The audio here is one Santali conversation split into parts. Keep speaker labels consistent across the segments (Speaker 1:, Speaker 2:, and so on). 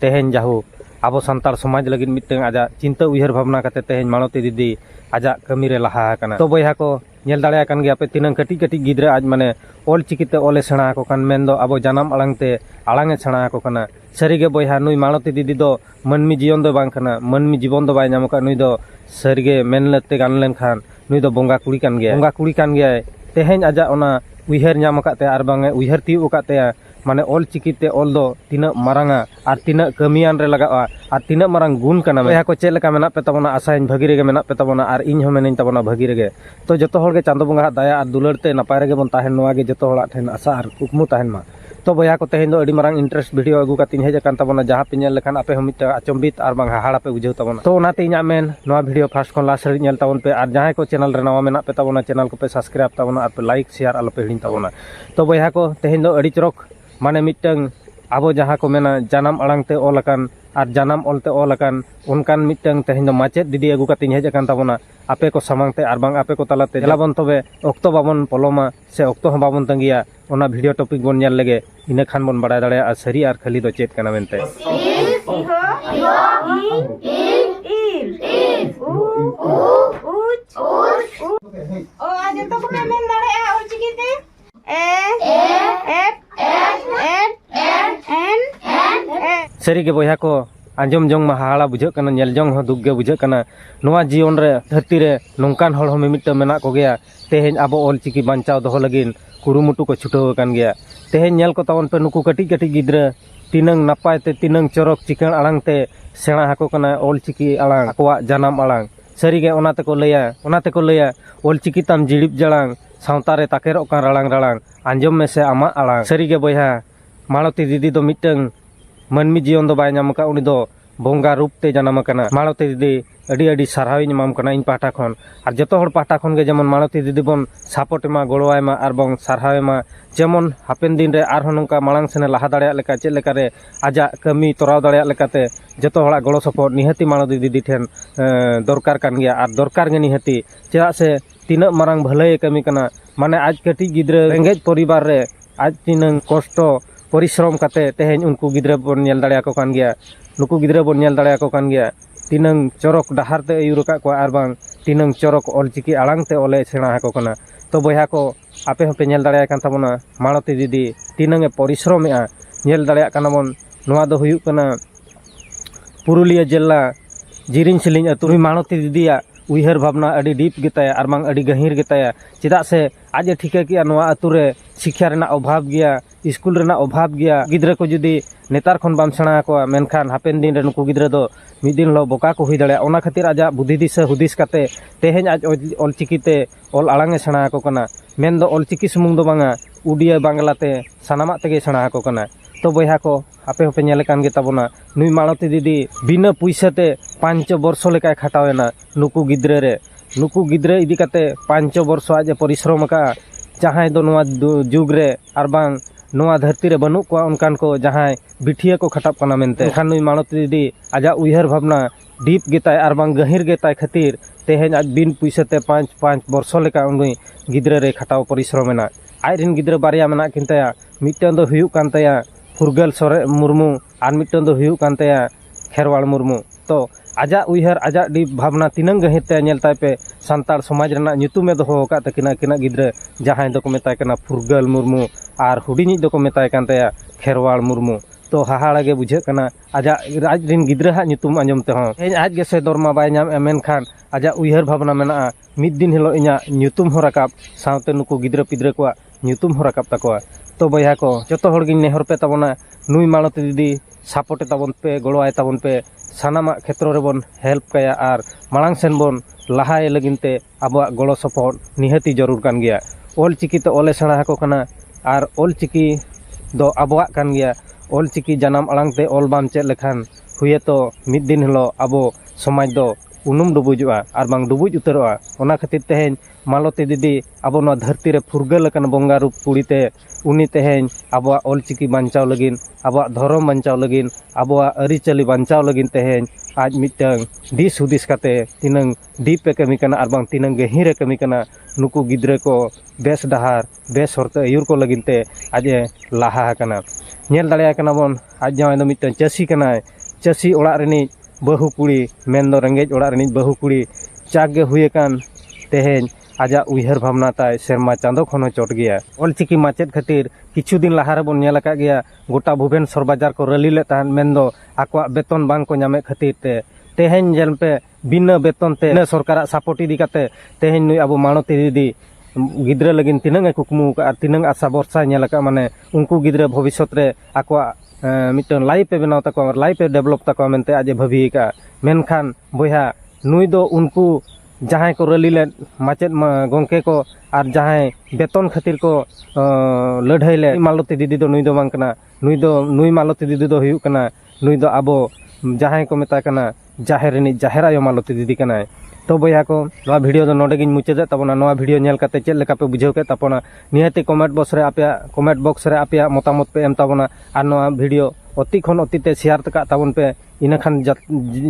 Speaker 1: ᱛᱮᱦᱮᱧ ᱡᱟᱦᱳᱠ ᱟᱵᱚ ᱥᱟᱱᱛᱟᱲ ᱥᱚᱢᱟᱡᱽ ᱞᱟᱹᱜᱤᱫ ᱢᱤᱫᱴᱟᱝ ᱟᱡᱟᱜ ᱪᱤᱱᱛᱟᱹ ᱩᱭᱦᱟᱹᱨ ᱵᱷᱟᱵᱽᱱᱟ ᱠᱟᱛᱮ ᱛᱮᱦᱮᱧ ᱢᱟᱲᱚᱛᱤ ᱫᱤᱫᱤ ᱟᱡᱟᱜ ᱠᱟᱹᱢᱤ ᱨᱮ ᱞᱟᱦᱟ ᱟᱠᱟᱱᱟ ᱛᱚ ᱵᱚᱭᱦᱟ ᱠᱚ ᱧᱮᱞ ᱫᱟᱲᱮᱭᱟᱭ ᱠᱟᱱ ᱜᱮᱭᱟ ᱯᱮ ᱛᱤᱱᱟᱹᱝ ᱠᱟᱹᱴᱤᱡ ᱠᱟᱹᱴᱤᱡ ᱜᱤᱫᱽᱨᱟᱹ ᱟᱡ ᱢᱟᱱᱮ ᱚᱞ ᱪᱤᱠᱤ ᱛᱮ ᱚᱞᱮ ᱥᱮᱬᱟ ᱟᱠᱚ ᱠᱟᱱ ᱢᱮᱱ ᱫᱚ ᱟᱵᱚ ᱡᱟᱱᱟᱢ ᱟᱲᱟᱝ ᱛᱮ ᱟᱲᱟᱝ ᱮ ᱥᱮᱬᱟ ᱟᱠᱚ ᱠᱟᱱᱟ ᱥᱟᱹᱨᱤ ᱜᱮ ᱵᱚᱭᱦᱟ ᱱᱩᱭ ᱢᱟᱲᱚᱛᱤ ᱫᱤᱫᱤ ᱫᱚ ᱢᱟᱹᱱᱢᱤ ᱡᱤᱭᱚᱱ ᱫᱚ ᱵᱟᱝ ᱠᱟᱱᱟ ᱢᱟᱹᱱᱢᱤ ᱡᱤᱵᱚᱱ ᱫᱚ ᱵᱟᱭ ᱧᱟᱢ ᱟᱠᱟᱫ ᱱᱩᱭ ᱫᱚ ᱥᱟᱹᱨᱤ ᱜᱮ ᱢᱮᱱ ᱞᱟᱹᱠᱛᱤ ᱜᱟᱱ ᱞᱮᱱᱠᱷᱟᱱ ᱱᱩᱭ ᱫᱚ ᱵᱚᱸᱜᱟ ᱠᱩᱲᱤ ᱠᱟᱱ ᱜᱮᱭᱟᱭ ᱵᱚᱸᱜᱟ ᱠᱩᱲᱤ ᱠᱟᱱ ᱜᱮᱭᱟᱭ ᱛᱮᱦᱮᱧ ᱟᱡᱟᱜ ᱚᱱᱟ ᱩᱭᱦᱟᱹᱨ ᱧᱟᱢ ᱟᱠᱟᱫ ᱛᱟᱭᱟ ᱟᱨ ᱵᱟᱝ ᱮ ᱩᱭᱦᱟᱹᱨ ᱛᱤᱭᱳᱜ ᱟᱠᱟᱫ ᱛᱟᱭᱟ ᱢᱟᱱᱮ ᱚᱞ ᱪᱤᱠᱤ ᱛᱮ ᱚᱞ ᱫᱚ ᱛᱤᱱᱟᱹᱜ ᱢᱟᱨᱟᱝᱟ ᱟᱨ ᱛᱤᱱᱟᱹᱜ ᱠᱟᱹᱢᱤᱭᱟᱱ ᱨᱮ ᱞᱟᱜᱟᱜᱼᱟ ᱟᱨ ᱛᱤᱱᱟᱹᱜ ᱢᱟᱨᱟᱝ ᱜᱩᱱ ᱠᱟᱱᱟ ᱵᱚᱭᱦᱟ ᱠᱚ ᱪᱮᱫ ᱞᱮᱠᱟ ᱢᱮᱱᱟᱜ ᱯᱮ ᱛᱟᱵᱚᱱᱟ ᱟᱥᱟᱭᱟᱹᱧ ᱵᱷᱟᱹᱜᱤ ᱨᱮᱜᱮ ᱢᱮᱱᱟᱜ ᱯᱮ ᱛᱟᱵᱚᱱᱟ ᱟᱨ ᱤᱧ ᱦᱚᱸ ᱢᱤᱱᱟᱹᱧ ᱛᱟᱵᱚᱱᱟ ᱵᱷᱟᱹᱜᱤ ᱨᱮᱜᱮ ᱛᱚ ᱡᱚᱛᱚ ᱦᱚᱲ ᱜᱮ ᱪᱟᱸᱫᱚ ᱵᱚᱸᱜᱟᱣᱟᱜ ᱫᱟᱭᱟ ᱟᱨ ᱫᱩᱞᱟᱹᱲ ᱛᱮ ᱱᱟᱯᱟᱭ ᱨᱮᱜᱮ ᱵᱚᱱ ᱛᱟᱦᱮᱱ ᱱᱚᱣᱟ ᱜᱮ ᱡᱚᱛᱚ ᱦᱚᱲᱟᱜ ᱴᱷᱮᱱ ᱟᱥᱟ ᱟᱨ ᱠᱩᱠᱢᱩ ᱛᱟᱦᱮᱱ ᱢᱟ ᱛᱚ ᱵᱚᱭᱦᱟ ᱠᱚ ᱛᱮᱦᱮᱧ ᱫᱚ ᱟᱹᱰᱤ ᱢᱟᱨᱟᱝ ᱤᱱᱴᱟᱨᱮᱥᱴ ᱵᱷᱤᱰᱭᱳ ᱟᱹᱜᱩ ᱠᱟᱛᱮᱧ ᱦᱮᱡ ᱟᱠᱟᱱ ᱛᱟᱵᱚᱱᱟ ᱡᱟᱦᱟᱸ ᱯᱮ ᱧᱮᱞ ᱞᱮᱠᱷᱟᱱ ᱟᱯᱮ ᱦᱚᱸ ᱢᱤᱫᱴᱟᱝ ᱟᱪᱚᱢᱵᱤᱛ ᱟᱨ ᱵᱟᱝ ᱦᱟᱦᱟᱲᱟ ᱯᱮ ᱵᱩᱡᱷᱟᱹᱣ ᱛᱟᱵᱚᱱᱟ ᱛᱚ ᱚᱱᱟᱛᱮ ᱤᱧᱟᱹᱜ ᱢᱮᱱ ᱱᱚᱣᱟ ᱵᱷᱤᱰᱭᱳ ᱯᱷᱟᱥᱴ ᱠᱷᱚᱱ ᱞᱟᱥᱴ ᱦᱟᱹᱨᱤᱡ ᱧᱮᱞ ᱛᱟᱵᱚᱱ ᱯᱮ ᱟᱨ ᱡᱟᱦᱟᱸᱭ ᱠᱚ ᱪᱮᱱᱮᱞ ᱨᱮ ᱱᱟᱣᱟ ᱢᱮᱱᱟᱜ ᱯᱮ ᱛᱟᱵᱚᱱᱟ ᱪᱮᱱᱮᱞ ᱠᱚᱯᱮ ᱥᱟᱵᱥᱠᱨᱟᱭᱤᱵᱽ ᱛᱟᱵᱚᱱᱟ ᱟᱨ ᱯᱮ ᱞᱟᱭᱤᱠ ᱥᱮᱭᱟᱨ ᱟᱞᱚᱯᱮ ᱦᱤᱲᱤᱧ ᱛᱟᱵᱚᱱᱟ ᱛᱚ ᱵᱚᱭᱦᱟ ᱠᱚ ᱛᱮᱦᱮᱧ ᱫᱚ ᱟᱹᱰᱤ ᱪᱚᱨᱚᱠ ᱢᱟᱱᱮ ᱢᱤᱫᱴᱟᱝ ᱟᱵᱚ ᱡᱟᱦᱟᱸ ᱠᱚ ᱢᱮᱱᱟ ᱡᱟᱱᱟᱢ ᱟᱲᱟᱝ ᱛᱮ ᱚᱞ ᱟᱠᱟᱱ ᱟᱨ ᱡᱟᱱᱟᱢ ᱚᱞ ᱛᱮ ᱚᱞ ᱟᱠᱟᱱ ᱚᱱᱠᱟᱱ ᱢᱤᱫᱴᱟᱝ ᱛᱮᱦᱮᱧ ᱫᱚ ᱢᱟᱪᱮᱫ ᱫᱤᱫᱤ ᱟᱹᱜᱩ ᱠᱟᱛᱮᱫ ᱤᱧ ᱦᱮᱡ ᱟᱠᱟᱱ ᱛᱟᱵᱚᱱᱟ ᱟᱯᱮ ᱠᱚ ᱥᱟᱢᱟᱝ ᱛᱮ ᱟᱨ ᱵᱟᱝ ᱟᱯᱮ ᱠᱚ ᱛᱟᱞᱟᱛᱮ ᱫᱮᱞᱟ ᱵᱚᱱ ᱛᱚᱵᱮ ᱚᱠᱛᱚ ᱵᱟᱵᱚᱱ ᱯᱚᱞᱚᱢᱟ ᱥᱮ ᱚᱠᱛᱚ ᱦᱚᱸ ᱵᱟᱵᱚᱱ ᱛᱟᱺᱜᱤᱭᱟ ᱚᱱᱟ ᱵᱷᱤᱰᱤᱭᱳ ᱴᱚᱯᱤᱠ ᱵᱚᱱ ᱧᱮᱞ ᱞᱮᱜᱮ ᱤᱱᱟᱹ ᱠᱷᱟᱱ ᱵᱚᱱ ᱵᱟᱲᱟᱭ ᱫᱟᱲᱮᱭᱟᱜᱼᱟ ᱥᱟᱹᱨᱤ ᱟᱨ ᱠᱷᱟᱹᱞᱤ ᱫᱚ ᱪᱮᱫ ᱠᱟᱱᱟ ᱢᱮᱱᱛᱮ ᱥᱟᱹᱨᱤ ᱜᱮ ᱵᱚᱭᱦᱟ ᱠᱚ ᱟᱸᱡᱚᱢ ᱡᱚᱝ ᱢᱟ ᱦᱟᱦᱟᱲᱟ ᱵᱩᱡᱷᱟᱹᱜ ᱠᱟᱱᱟ ᱧᱮᱞ ᱡᱚᱝ ᱦᱚᱸ ᱫᱩᱠ ᱜᱮ ᱵᱩᱡᱷᱟᱹᱜ ᱠᱟᱱᱟ ᱱᱚᱣᱟ ᱡᱤᱭᱚᱱ ᱨᱮ ᱫᱷᱟᱹᱨᱛᱤ ᱨᱮ ᱱᱚᱝᱠᱟᱱ ᱦᱚᱲ ᱦᱚᱸ ᱢᱤᱢᱤᱫᱴᱟᱝ ᱢᱮᱱᱟᱜ ᱠᱚᱜᱮᱭᱟ ᱛᱮᱦᱮᱧ ᱟᱵᱚ ᱚᱞᱪᱤᱠᱤ ᱵᱟᱧᱪᱟᱣ ᱫᱚᱦᱚ ᱞᱟᱹᱜᱤᱫ ᱠᱩᱨᱩᱢᱩᱴᱩ ᱠᱚ ᱪᱷᱩᱴᱟᱹᱣ ᱟᱠᱟᱱ ᱜᱮᱭᱟ ᱛᱮᱦᱮᱧ ᱧᱮᱞ ᱠᱚ ᱛᱟᱵᱚᱱ ᱯᱮ ᱱᱩᱠᱩ ᱠᱟᱹᱴᱤᱡ ᱠᱟᱹᱴᱤᱡ ᱜᱤᱫᱽᱨᱟᱹ ᱛᱤᱱᱟᱹᱝ ᱱᱟᱯᱟᱭ ᱛᱮ ᱛᱤᱱᱟᱹᱝ ᱪᱚᱨᱚᱠ ᱪᱤᱠᱟᱹᱬ ᱟᱲᱟᱝ ᱛᱮ ᱥᱮᱬᱟ ᱟᱠᱚ ᱠᱟᱱᱟ ᱚᱞᱪᱤᱠᱤ ᱟᱲᱟᱝ ᱟᱠᱚᱣᱟᱜ ᱡᱟᱱᱟᱢ ᱟᱲᱟᱝ ᱥᱟᱹᱨᱤᱜᱮ ᱚᱱᱟ ᱛᱮᱠᱚ ᱞᱟᱹᱭᱟ ᱚᱱᱟ ᱛᱮᱠᱚ ᱞᱟᱹᱭᱟ ᱚᱞ ᱪᱤᱠᱤ ᱛᱟᱢ ᱡᱤᱲᱤᱫ ᱡᱟᱲᱟᱝ ᱥᱟᱶᱛᱟ ᱨᱮ ᱛᱟᱠᱮᱨᱚᱜ ᱠᱟᱱ ᱨᱟᱲᱟᱝ ᱨᱟᱲᱟᱝ ᱟᱸᱡᱚᱢ ᱢᱮᱥᱮ ᱟᱢᱟᱜ ᱟᱲᱟᱝ ᱥᱟᱹᱨᱤᱜᱮ ᱵᱚᱭᱦᱟ ᱢᱟᱞᱚᱛᱤ ᱫᱤᱫᱤ ᱫᱚ ᱢᱤᱫᱴᱟᱹᱝ ᱢᱟᱹᱱᱢᱤ ᱡᱤᱭᱚᱱ ᱫᱚ ᱵᱟᱭ ᱧᱟᱢ ᱟᱠᱟᱫᱼᱟ ᱩᱱᱤ ᱫᱚ ᱵᱚᱸᱜᱟ ᱨᱩᱯ ᱛᱮ ᱡᱟᱱᱟᱢ ᱟᱠᱟᱱᱟ ᱢᱟᱞᱚᱛᱤ ᱫᱤᱫᱤ ᱟᱹᱰᱤ ᱟᱹᱰᱤ ᱥᱟᱨᱦᱟᱣ ᱤᱧ ᱮᱢᱟᱢ ᱠᱟᱱᱟ ᱤᱧ ᱯᱟᱦᱴᱟ ᱠᱷᱚᱱ ᱟᱨ ᱡᱚᱛᱚ ᱦᱚᱲ ᱯᱟᱦᱴᱟ ᱠᱷᱚᱱ ᱜᱮ ᱡᱮᱢᱚᱱ ᱢᱟᱞᱚᱛᱤ ᱫᱤᱫᱤ ᱵᱚᱱ ᱥᱟᱯᱳᱨᱴ ᱮᱢᱟ ᱜᱚᱲᱚ ᱟᱭᱢᱟ ᱟᱨ ᱵᱚᱱ ᱥᱟᱨᱦᱟᱣ ᱮᱢᱟ ᱡᱮᱢᱚᱱ ᱦᱟᱯᱮᱱ ᱫᱤᱱ ᱨᱮ ᱟᱨᱦᱚᱸ ᱱᱚᱝᱠᱟ ᱢᱟᱲᱟᱝ ᱥᱮᱱᱮ ᱞᱟᱦᱟ ᱫᱟᱲᱮᱭᱟᱜ ᱞᱮᱠᱟ ᱪᱮᱫ ᱞᱮᱠᱟᱨᱮ ᱟᱡᱟᱜ ᱠᱟᱹᱢᱤ ᱛᱚᱨᱟᱣ ᱫᱟᱲᱮᱭᱟᱜ ᱞᱮᱠᱟᱛᱮ ᱡᱚᱛᱚ ᱦᱚᱲᱟᱜ ᱜᱚᱲᱚ ᱥᱚᱯᱚᱦᱚᱫ ᱱᱤᱦᱟᱹᱛᱤ ᱢᱟᱞᱚᱛᱤ ᱫᱤᱫᱤ ᱴᱷᱮᱱ ᱫᱚᱨᱠᱟᱨ ᱠᱟᱱ ᱜᱮᱭᱟ ᱟᱨ ᱫᱚᱨᱠᱟᱨ ᱜᱮ ᱱᱤᱦᱟᱹᱛᱤ ᱪᱮᱫᱟᱜ ᱥᱮ ᱛᱤᱱᱟᱹᱜ ᱢᱟᱨᱟᱝ ᱵᱷᱟᱹᱞᱟᱹᱭᱮ ᱠᱟᱹᱢᱤ ᱠᱟᱱᱟ ᱢᱟᱱᱮ ᱟᱡ ᱠᱟᱹᱴᱤᱡ ᱜᱤᱫᱽᱨᱟᱹ ᱨᱮᱸᱜᱮᱡ ᱯᱚᱨᱤᱵᱟᱨ ᱨᱮ ᱟᱡ ᱛᱤᱱᱟᱹᱝ ᱠᱚᱥᱴᱚ ᱯᱚᱨᱤᱥᱨᱚᱢ ᱠᱟᱛᱮ ᱛᱮᱦᱮᱧ ᱩᱱᱠᱩ ᱜᱤᱫᱽᱨᱟᱹ ᱵᱚᱱ ᱧᱮᱞ ᱫᱟᱲᱮᱭᱟᱠᱚ ᱠᱟᱱ ᱜᱮᱭᱟ ᱱᱩᱠᱩ ᱜᱤᱫᱽᱨᱟᱹ ᱵᱚᱱ ᱧᱮᱞ ᱫᱟᱲᱮᱭᱟᱠᱚ ᱠᱟᱱ ᱜᱮᱭᱟ ᱛᱤᱱᱟᱹᱝ ᱪᱚᱨᱚᱠ ᱰᱟᱦᱟᱨ ᱛᱮᱭ ᱟᱹᱭᱩᱨ ᱟᱠᱟᱫ ᱠᱚᱣᱟ ᱟᱨ ᱵᱟᱝ ᱛᱤᱱᱟᱹᱝ ᱪᱚᱨᱚᱠ ᱚᱞᱪᱤᱠᱤ ᱟᱲᱟᱝ ᱛᱮ ᱚᱞᱮ ᱥᱮᱬᱟ ᱟᱠᱚ ᱠᱟᱱᱟ ᱛᱚ ᱵᱚᱭᱦᱟ ᱠᱚ ᱟᱯᱮ ᱦᱚᱸᱯᱮ ᱧᱮᱞ ᱫᱟᱲᱮᱭᱟᱭ ᱠᱟᱱ ᱛᱟᱵᱚᱱᱟ ᱢᱟᱲᱚᱛᱤ ᱫᱤᱫᱤ ᱛᱤᱱᱟᱹᱝ ᱮ ᱯᱚᱨᱤᱥᱨᱚᱢᱮᱜᱼᱟ ᱧᱮᱞ ᱫᱟᱲᱮᱭᱟᱜ ᱠᱟᱱᱟ ᱵᱚᱱ ᱱᱚᱣᱟ ᱫᱚ ᱦᱩᱭᱩᱜ ᱠᱟᱱᱟ ᱯᱩᱨᱩᱞᱤᱭᱟᱹ ᱡᱮᱞᱟ ᱡᱤᱞᱤᱧ ᱥᱤᱞᱤᱧ ᱟᱹᱛᱩ ᱨᱮᱱ ᱢᱟᱲᱚᱛᱤ ᱫᱤᱫᱤᱭᱟᱜ ᱩᱭᱦᱟᱹᱨ ᱵᱷᱟᱵᱽᱱᱟ ᱟᱹᱰᱤ ᱰᱤᱯ ᱜᱮᱛᱟᱭᱟ ᱟᱨ ᱵᱟᱝ ᱟᱹᱰᱤ ᱜᱟᱹᱦᱤᱨ ᱜᱮᱛᱟᱭᱟ ᱪᱮᱫᱟᱜ ᱥᱮ ᱟᱡ ᱮ ᱴᱷᱤᱠᱟᱹ ᱠᱮᱜᱼᱟ ᱱᱚᱣᱟ ᱟᱹᱛᱩ ᱨᱮ ᱥᱤᱠᱠᱷᱟ ᱨᱮᱱᱟᱜ ᱚᱵᱷᱟᱵᱽ ᱜᱮᱭᱟ ᱤᱥᱠᱩᱞ ᱨᱮᱱᱟᱜ ᱚᱵᱷᱟᱵᱽ ᱜᱮᱭᱟ ᱜᱤᱫᱽᱨᱟᱹ ᱠᱚ ᱡᱩᱫᱤ ᱱᱮᱛᱟᱨ ᱠᱷᱚᱱ ᱵᱟᱢ ᱥᱮᱬᱟ ᱟᱠᱚᱣᱟ ᱢᱮᱱᱠᱷᱟᱱ ᱦᱟᱯᱮᱱ ᱫᱤᱱ ᱨᱮ ᱱᱩᱠᱩ ᱜᱤᱫᱽᱨᱟᱹ ᱫᱚ ᱢᱤᱫ ᱫᱤᱱ ᱦᱤᱞᱳᱜ ᱵᱚᱠᱟ ᱠᱚ ᱦᱩᱭ ᱫᱟᱲᱮᱭᱟᱜᱼᱟ ᱚᱱᱟ ᱠᱷᱟᱹᱛᱤᱨ ᱟᱡᱟᱜ ᱵᱩᱫᱽᱫᱷᱤ ᱫᱤᱥᱟᱹ ᱦᱩᱫᱤᱥ ᱠᱟᱛᱮᱫ ᱛᱮᱦᱮᱧ ᱟᱡ ᱚᱞᱪᱤᱠᱤ ᱛᱮ ᱚᱞ ᱟᱲᱟᱝ ᱮ ᱥᱮᱬᱟ ᱟᱠᱚ ᱠᱟᱱᱟ ᱢᱮᱱᱫᱚ ᱚᱞ ᱪᱤᱠᱤ ᱥᱩᱢᱩᱝ ᱫᱚ ᱵᱟᱝᱟ ᱩᱰᱤᱭᱟᱹ ᱵᱟᱝᱞᱟ ᱛᱮ ᱥᱟᱱᱟᱢᱟᱜ ᱛᱮᱜᱮ ᱥᱮᱬᱟ ᱟᱠᱚ ᱠᱟᱱᱟ ᱛᱚ ᱵᱚᱭᱦᱟ ᱠᱚ ᱟᱯᱮ ᱦᱚᱸᱯᱮ ᱧᱮᱞᱮ ᱠᱟᱱ ᱜᱮᱛᱟᱵᱚᱱᱟ ᱱᱩᱭ ᱢᱟᱞᱚᱛᱤ ᱫᱤᱫᱤ ᱵᱤᱱᱟᱹ ᱯᱩᱭᱥᱟᱹ ᱛᱮ ᱯᱟᱧᱪᱚ ᱵᱚᱨᱥᱚ ᱞᱮᱠᱟᱭ ᱠᱷᱟᱴᱟᱣ ᱮᱱᱟ ᱱᱩᱠᱩ ᱜᱤᱫᱽᱨᱟᱹ ᱨᱮ ᱱᱩᱠᱩ ᱜᱤᱫᱽᱨᱟᱹ ᱤᱫᱤ ᱠᱟᱛᱮ ᱯᱟᱧᱪᱚ ᱵᱚᱨᱥᱚ ᱟᱡ ᱮ ᱯᱚᱨᱤᱥᱨᱚᱢ ᱠᱟᱜᱼᱟ ᱡᱟᱦᱟᱸᱭ ᱫᱚ ᱱᱚᱣᱟ ᱡᱩᱜᱽ ᱨᱮ ᱟᱨ ᱵᱟᱝ ᱱᱚᱣᱟ ᱫᱷᱟᱹᱨᱛᱤ ᱨᱮ ᱵᱟᱹᱱᱩᱜ ᱠᱚᱣᱟ ᱚᱱᱠᱟᱱ ᱠᱚ ᱡᱟᱦᱟᱸᱭ ᱵᱤᱴᱷᱤᱭᱟᱹ ᱠᱚ ᱠᱷᱟᱴᱟᱜ ᱠᱟᱱᱟ ᱢᱮᱱᱛᱮ ᱮᱱᱠᱷᱟᱱ ᱱᱩᱭ ᱢᱟᱞᱚᱛᱤ ᱫᱤᱫᱤ ᱟᱡᱟᱜ ᱩᱭᱦᱟᱹᱨ ᱵᱷᱟᱵᱽᱱᱟ ᱰᱤᱯ ᱜᱮᱛᱟᱭ ᱟᱨ ᱵᱟᱝ ᱜᱟᱹᱦᱤᱨ ᱜᱮᱛᱟᱭ ᱠᱷᱟᱹᱛᱤᱨ ᱛᱮᱦᱮᱧ ᱟᱡ ᱵᱤᱱ ᱯᱩᱭᱥᱟᱹ ᱛᱮ ᱯᱟᱸᱪ ᱯᱟᱸᱪ ᱵᱚᱨᱥᱚ ᱞᱮᱠᱟ ᱩᱱᱤ ᱜᱤᱫᱽᱨᱟᱹ ᱨᱮ ᱠᱷᱟᱴᱟᱣ ᱯᱚᱨᱤᱥᱨᱚᱢ ᱮᱱᱟ ᱟᱡ ᱨᱮᱱ ᱜᱤᱫᱽᱨᱟᱹ ᱵᱟᱨᱭᱟ ᱢᱮᱱᱟᱜ ᱠᱤᱱ ᱛᱟᱭᱟ ᱢᱤᱫᱴᱟᱹᱝ ᱫᱚ ᱦᱩᱭᱩᱜ ᱠᱟᱱ ᱛᱟᱭᱟ ᱯᱷᱩᱨᱜᱟᱹᱞ ᱥᱚᱨᱮᱱ ᱢᱩᱨᱢᱩ ᱟᱨ ᱢᱤᱫᱴᱟᱹᱝ ᱫᱚ ᱦᱩᱭᱩᱜ ᱠᱟᱱ ᱛᱟᱭᱟ ᱠᱷᱮᱨᱣᱟᱞ ᱢᱩᱨᱢᱩ ᱛᱚ ᱟᱡᱟᱜ ᱩᱭᱦᱟᱹᱨ ᱟᱡᱟᱜ ᱰᱤᱯ ᱵᱷᱟᱵᱽᱱᱟ ᱛᱤᱱᱟᱹᱝ ᱜᱟᱹᱦᱤᱨ ᱛᱟᱭᱟ ᱧᱮᱞ ᱛᱟᱭ ᱯᱮ ᱥᱟᱱᱛᱟᱲ ᱥᱚᱢᱟᱡᱽ ᱨᱮᱱᱟᱜ ᱧᱩᱛᱩᱢᱮ ᱫᱚᱦᱚ ᱟᱠᱟᱫ ᱛᱟᱹᱠᱤᱱᱟ ᱟᱹᱠᱤᱱᱟᱜ ᱜᱤᱫᱽᱨᱟᱹ ᱡᱟᱦᱟᱸᱭ ᱫᱚᱠᱚ ᱢᱮᱛᱟᱭ ᱠᱟᱱᱟ ᱯᱷᱩᱨᱜᱟᱹᱞ ᱢᱩᱨᱢᱩ ᱟᱨ ᱦᱩᱰᱤᱧᱤᱡ ᱫᱚᱠᱚ ᱢᱮᱛᱟᱭ ᱠᱟᱱ ᱛᱟᱭᱟ ᱠᱷᱮᱨᱣᱟᱞ ᱢᱩᱨᱢᱩ ᱛᱚ ᱦᱟᱦᱟᱲᱟᱜ ᱜᱮ ᱵᱩᱡᱷᱟᱹᱜ ᱠᱟᱱᱟ ᱟᱡᱟᱜ ᱟᱡ ᱨᱮᱱ ᱜᱤᱫᱽᱨᱟᱹ ᱦᱟᱜ ᱧᱩᱛᱩᱢ ᱟᱸᱡᱚᱢ ᱛᱮᱦᱚᱸ ᱛᱮᱦᱮᱧ ᱟᱡ ᱜᱮᱥᱮ ᱫᱚᱨᱢᱟ ᱵᱟᱭ ᱧᱟᱢᱮᱜᱼᱟ ᱢᱮᱱᱠᱷᱟᱱ ᱟᱡᱟᱜ ᱩᱭᱦᱟᱹᱨ ᱵᱷᱟᱵᱽᱱᱟ ᱢᱮᱱᱟᱜᱼᱟ ᱢᱤᱫ ᱫᱤᱱ ᱦᱤᱞᱳᱜ ᱤᱧᱟᱹᱜ ᱧᱩᱛᱩᱢ ᱦᱚᱸ ᱨᱟᱠᱟᱵ ᱥᱟᱶᱛᱮ ᱱᱩᱠᱩ ᱜᱤᱫᱽᱨᱟᱹ ᱯᱤᱫᱽᱨᱟᱹ ᱠᱚᱣᱟᱜ ᱧᱩᱛᱩᱢ ᱦᱚᱸ ᱨᱟᱠᱟᱵ ᱛᱟᱠᱚᱣᱟ ᱛᱚ ᱵᱚᱭᱦᱟ ᱠᱚ ᱡᱚᱛᱚ ᱦᱚᱲ ᱜᱤᱧ ᱱᱮᱦᱚᱨ ᱯᱮ ᱛᱟᱵᱚᱱᱟ ᱱᱩᱭ ᱢᱟᱞᱚᱛᱤ ᱫᱤᱫᱤ ᱥᱟᱯᱳᱨᱴ ᱛᱟᱵᱚᱱ ᱯᱮ ᱜᱚᱲᱚ ᱟᱭ ᱛᱟᱵᱚᱱ ᱯᱮ ᱥᱟᱱᱟᱢᱟᱜ ᱠᱷᱮᱛᱨᱚ ᱨᱮᱵᱚᱱ ᱦᱮᱞᱯ ᱠᱟᱭᱟ ᱟᱨ ᱢᱟᱲᱟᱝ ᱥᱮᱱ ᱵᱚᱱ ᱞᱟᱦᱟᱭᱮ ᱞᱟᱹᱜᱤᱫ ᱛᱮ ᱟᱵᱚᱣᱟᱜ ᱜᱚᱲᱚ ᱥᱚᱯᱚᱦᱚᱫ ᱱᱤᱦᱟᱹᱛᱤ ᱡᱟᱹᱨᱩᱲ ᱠᱟᱱ ᱜᱮᱭᱟ ᱚᱞ ᱪᱤᱠᱤ ᱛᱮ ᱚᱞ ᱮ ᱥᱮᱬᱟ ᱟᱠᱚ ᱠᱟᱱᱟ ᱟᱨ ᱚᱞ ᱪᱤᱠᱤ ᱫᱚ ᱟᱵᱚᱣᱟᱜ ᱠᱟᱱ ᱜᱮᱭᱟ ᱚᱞ ᱪᱤᱠᱤ ᱡᱟᱱᱟᱢ ᱟᱲᱟᱝ ᱛᱮ ᱚᱞ ᱵᱟᱢ ᱪᱮᱫ ᱞᱮᱠᱷᱟᱱ ᱦᱩᱭᱮᱛᱚ ᱢᱤᱫ ᱫᱤᱱ ᱦᱤᱞᱳᱜ ᱟᱵᱚ ᱥᱚᱢᱟᱡᱽ ᱫᱚ ᱩᱱᱩᱢ ᱰᱩᱵᱩᱡᱚᱜᱼᱟ ᱟᱨ ᱵᱟᱝ ᱰᱩᱵᱩᱡ ᱩᱛᱟᱹᱨᱚᱜᱼᱟ ᱚᱱᱟ ᱠᱷᱟᱹᱛᱤᱨ ᱛᱮᱦᱮᱧ ᱢᱟᱞᱚᱛᱤ ᱫᱤᱫᱤ ᱟᱵᱚ ᱱᱚᱣᱟ ᱫᱷᱟᱹᱨᱛᱤ ᱨᱮ ᱯᱷᱩᱨᱜᱟᱹᱞ ᱟᱠᱟᱱ ᱵᱚᱸᱜᱟ ᱨᱩᱯ ᱠᱩᱲᱤ ᱛᱮ ᱩᱱᱤ ᱛᱮᱦᱮᱧ ᱟᱵᱚᱣᱟᱜ ᱚᱞ ᱪᱤᱠᱤ ᱵᱟᱧᱪᱟᱣ ᱞᱟᱹᱜᱤᱫ ᱟᱵᱚᱣᱟᱜ ᱫᱷᱚᱨᱚᱢ ᱵᱟᱧᱪᱟᱣ ᱞᱟᱹᱜᱤᱫ ᱟᱵᱚᱣᱟᱜ ᱟᱹᱨᱤᱪᱟᱹᱞᱤ ᱵᱟᱧᱪᱟᱣ ᱞᱟᱹᱜᱤᱫ ᱛᱮᱦᱮᱧ ᱟᱡ ᱢᱤᱫᱴᱟᱹᱝ ᱫᱤᱥ ᱦᱩᱫᱤᱥ ᱠᱟᱛᱮ ᱛᱤᱱᱟᱹᱝ ᱰᱤᱯ ᱮ ᱠᱟᱹᱢᱤ ᱠᱟᱱᱟ ᱟᱨ ᱵᱟᱝ ᱛᱤᱱᱟᱹᱝ ᱜᱟᱹᱦᱤᱨᱮ ᱠᱟᱹᱢᱤ ᱠᱟᱱᱟ ᱱᱩᱠᱩ ᱜᱤᱫᱽᱨᱟᱹ ᱠᱚ ᱵᱮᱥ ᱰᱟᱦᱟᱨ ᱵᱮᱥ ᱦᱚᱨ ᱛᱮ ᱟᱹᱭᱩᱨ ᱠᱚ ᱞᱟᱹᱜᱤᱫ ᱛᱮ ᱟᱡ ᱮ ᱞᱟᱦᱟ ᱟᱠᱟᱱᱟ ᱧᱮᱞ ᱫᱟᱲᱮᱭᱟᱭ ᱠᱟᱱᱟ ᱵᱚᱱ ᱟᱡ ᱡᱟᱶᱟᱭ ᱫᱚ ᱢᱤᱫᱴᱮᱱ ᱪᱟᱹᱥᱤ ᱠᱟᱱᱟᱭ ᱪᱟᱹᱥᱤ ᱚᱲᱟᱜ ᱨᱤᱱᱤᱡ ᱵᱟᱹᱦᱩ ᱠᱩᱲᱤ ᱢᱮᱱᱫᱚ ᱨᱮᱸᱜᱮᱡ ᱚᱲᱟᱜ ᱨᱤᱱᱤᱡ ᱵᱟᱹᱦᱩ ᱠᱩᱲᱤ ᱡᱟᱠ ᱜᱮ ᱦᱩᱭ ᱟᱠᱟᱱ ᱛᱮᱦᱮᱧ ᱟᱡᱟᱜ ᱩᱭᱦᱟᱹᱨ ᱵᱷᱟᱵᱽᱱᱟ ᱛᱟᱭ ᱥᱮᱨᱢᱟ ᱪᱟᱸᱫᱚ ᱠᱷᱚᱱ ᱦᱚᱸ ᱪᱚᱴ ᱜᱮᱭᱟ ᱚᱞ ᱪᱤᱠᱤ ᱢᱟᱪᱮᱫ ᱠᱷᱟᱹᱛᱤᱨ ᱠᱤᱪᱷᱩ ᱫᱤᱱ ᱞᱟᱦᱟ ᱨᱮᱵᱚᱱ ᱧᱮᱞ ᱟᱠᱟᱫ ᱜᱮᱭᱟ ᱜᱳᱴᱟ ᱵᱷᱩᱵᱽᱱᱮᱥᱚᱨ ᱵᱟᱡᱟᱨ ᱠᱚ ᱨᱮᱞᱤ ᱞᱮᱫ ᱛᱟᱦᱮᱸᱫ ᱢᱮᱱᱫᱚ ᱟᱠᱚᱣᱟᱜ ᱵᱮᱛᱚᱱ ᱵᱟᱝᱠᱚ ᱧᱟᱢᱮᱫ ᱠᱷᱟᱹᱛᱤᱨ ᱛᱮ ᱛᱮᱦᱮᱧ ᱧᱮᱞ ᱯᱮ ᱵᱤᱱᱟᱹ ᱵᱮᱛᱚᱱ ᱛᱮ ᱵᱤᱱᱟᱹ ᱥᱚᱨᱠᱟᱨᱟᱜ ᱥᱟᱯᱳᱨᱴ ᱤᱫᱤ ᱠᱟᱛᱮ ᱛᱮᱦᱮᱧ ᱱᱩᱭ ᱟᱵᱚ ᱢᱟᱬᱚᱛᱤ ᱫᱤᱫᱤ ᱜᱤᱫᱽᱨᱟᱹ ᱞᱟᱹᱜᱤᱫ ᱛᱤᱱᱟᱹᱝ ᱮ ᱠᱩᱠᱢᱩ ᱟᱠᱟᱫᱼᱟ ᱟᱨ ᱛᱤᱱᱟᱹᱝ ᱟᱥᱟ ᱵᱷᱚᱨᱥᱟᱭ ᱧᱮᱞ ᱟᱠᱟᱫᱼᱟ ᱢᱟᱱᱮ ᱩᱱᱠᱩ ᱜᱤᱫᱽᱨᱟᱹ ᱵᱷᱚᱵᱤᱥᱥᱚᱛ ᱨᱮ ᱟᱠᱚᱣᱟᱜ ᱢᱤᱫᱴᱟᱝ ᱞᱟᱭᱤᱯᱷ ᱮ ᱵᱮᱱᱟᱣ ᱛᱟᱠᱚᱣᱟ ᱞᱟᱭᱤᱯᱷ ᱮ ᱰᱮᱵᱷᱞᱚᱯ ᱛᱟᱠᱚᱣᱟ ᱢᱮᱱᱛᱮ ᱟᱡ ᱮ ᱵᱷᱟᱹᱵᱤ ᱟᱠᱟᱫᱼᱟ ᱢᱮᱱᱠᱷᱟᱱ ᱵᱚᱭᱦᱟ ᱱᱩᱭ ᱫᱚ ᱩᱱᱠᱩ ᱡᱟᱦᱟᱸᱭ ᱠᱚ ᱨᱟᱹᱞᱤ ᱞᱮᱫ ᱢᱟᱪᱮᱫ ᱜᱚᱢᱠᱮ ᱠᱚ ᱟᱨ ᱡᱟᱦᱟᱸᱭ ᱵᱮᱛᱚᱱ ᱠᱷᱟᱹᱛᱤᱨ ᱠᱚ ᱞᱟᱹᱰᱷᱟᱹᱭ ᱞᱮᱫ ᱢᱟᱞᱚᱛᱤ ᱫᱤᱫᱤ ᱫᱚ ᱱᱩᱭ ᱫᱚ ᱵᱟᱝ ᱠᱟᱱᱟ ᱱᱩᱭ ᱫᱚ ᱱᱩᱭ ᱢᱟᱞᱚᱛᱤ ᱫᱤᱫᱤ ᱫᱚ ᱦᱩᱭᱩᱜ ᱠᱟᱱᱟ ᱱᱩᱭ ᱫᱚ ᱟᱵᱚ ᱡᱟᱦᱟᱸᱭ ᱠᱚ ᱢᱮᱛᱟᱭ ᱠᱟᱱᱟ ᱡᱟᱦᱮᱨ ᱨᱤᱱᱤᱡ ᱡᱟᱦᱮᱨ ᱟᱭᱳ ᱢᱟᱞᱚᱛᱤ ᱫᱤᱫᱤ ᱠᱟᱱᱟᱭ ᱛᱚ ᱵᱚᱭᱦᱟ ᱠᱚ ᱱᱚᱣᱟ ᱵᱷᱤᱰᱤᱭᱳ ᱫᱚ ᱱᱚᱰᱮ ᱜᱤᱧ ᱢᱩᱪᱟᱹᱫᱮᱫ ᱛᱟᱵᱚᱱᱟ ᱱᱚᱣᱟ ᱵᱷᱤᱰᱤᱭᱳ ᱧᱮᱞ ᱠᱟᱛᱮ ᱪᱮᱫ ᱞᱮᱠᱟ ᱯᱮ ᱵᱩᱡᱷᱟᱹᱣ ᱠᱮᱫ ᱛᱟᱵᱚᱱᱟ ᱱᱤᱦᱟᱹᱛᱤ ᱠᱚᱢᱮᱱᱴ ᱵᱚᱠᱥ ᱨᱮ ᱟᱯᱮᱭᱟᱜ ᱠᱚᱢᱮᱱᱴ ᱵᱚᱠᱥ ᱨᱮ ᱟᱯᱮᱭᱟᱜ ᱢᱚᱛᱟᱢᱚᱛ ᱯᱮ ᱮᱢ ᱛᱟᱵᱚᱱᱟ ᱟᱨ ᱱᱚᱣᱟ ᱵᱷᱤᱰᱤᱭᱳ ᱚᱛᱤ ᱠᱷᱚᱱ ᱚᱛᱤ ᱛᱮ ᱥᱮᱭᱟᱨ ᱠᱟᱜ ᱛᱟᱵᱚᱱ ᱯᱮ ᱤᱱᱟᱹ ᱠᱷᱟᱱ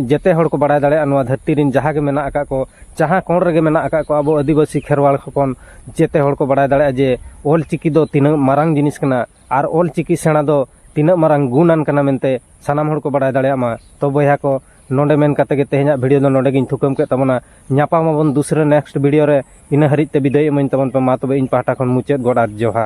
Speaker 1: ᱡᱮᱛᱮ ᱦᱚᱲ ᱠᱚ ᱵᱟᱲᱟᱭ ᱫᱟᱲᱮᱭᱟᱜᱼᱟ ᱱᱚᱣᱟ ᱫᱷᱟᱹᱨᱛᱤ ᱨᱮᱱ ᱡᱟᱦᱟᱸ ᱜᱮ ᱢᱮᱱᱟᱜ ᱟᱠᱟᱫ ᱠᱚ ᱡᱟᱦᱟᱸ ᱠᱚᱬ ᱨᱮᱜᱮ ᱢᱮᱱᱟᱜ ᱟᱠᱟᱫ ᱠᱚ ᱟᱵᱚ ᱟᱹᱫᱤᱵᱟᱹᱥᱤ ᱠᱷᱮᱨᱣᱟᱲ ᱦᱚᱯᱚᱱ ᱡᱮᱛᱮ ᱦᱚᱲ ᱠᱚ ᱵᱟᱲᱟᱭ ᱫᱟᱲᱮᱭᱟᱜᱼᱟ ᱡᱮ ᱚᱞ ᱪᱤᱠᱤ ᱫᱚ ᱛᱤᱱᱟᱹᱜ ᱢᱟᱨᱟᱝ ᱡᱤᱱᱤᱥ ᱠᱟᱱᱟ ᱟᱨ ᱚᱞ ᱪᱤᱠᱤ ᱥᱮᱬᱟ ᱫᱚ ᱛᱤᱱᱟᱹᱜ ᱢᱟᱨᱟᱝ ᱜᱩᱱᱟᱱ ᱠᱟᱱᱟ ᱢᱮᱱᱛᱮ ᱥᱟᱱᱟᱢ ᱦᱚᱲ ᱠᱚ ᱵᱟᱲᱟᱭ ᱫᱟᱲᱮᱭᱟᱜ ᱢᱟ ᱛᱚ ᱵᱚᱭᱦᱟ ᱠᱚ ᱱᱚᱰᱮ ᱢᱮᱱ ᱠᱟᱛᱮ ᱜᱮ ᱛᱮᱦᱮᱧᱟᱜ ᱵᱷᱤᱰᱤᱭᱳ ᱫᱚ ᱱᱚᱰᱮ ᱜᱤᱧ ᱛᱷᱩᱠᱟᱹᱢ ᱠᱮᱫ ᱛᱟᱵᱚᱱᱟ ᱧᱟᱯᱟᱢ ᱟᱵᱚᱱ ᱫᱩᱥᱨᱟᱹ ᱱᱮᱠᱥᱴ ᱵᱷᱤᱰᱤᱭᱳ ᱨᱮ ᱤᱱᱟᱹ ᱦᱟᱹᱨᱤᱡ ᱛᱮ ᱵᱤᱫᱟᱹᱭ ᱤᱢᱟᱹᱧ ᱛᱟᱵᱚᱱ ᱯᱮ ᱢᱟ ᱛᱚᱵᱮ ᱤᱧ ᱯᱟᱦᱴᱟ ᱠᱷᱚᱱ ᱢᱩᱪᱟᱹᱫ ᱜᱚᱰ ᱟᱨ ᱡᱚᱦᱟᱨ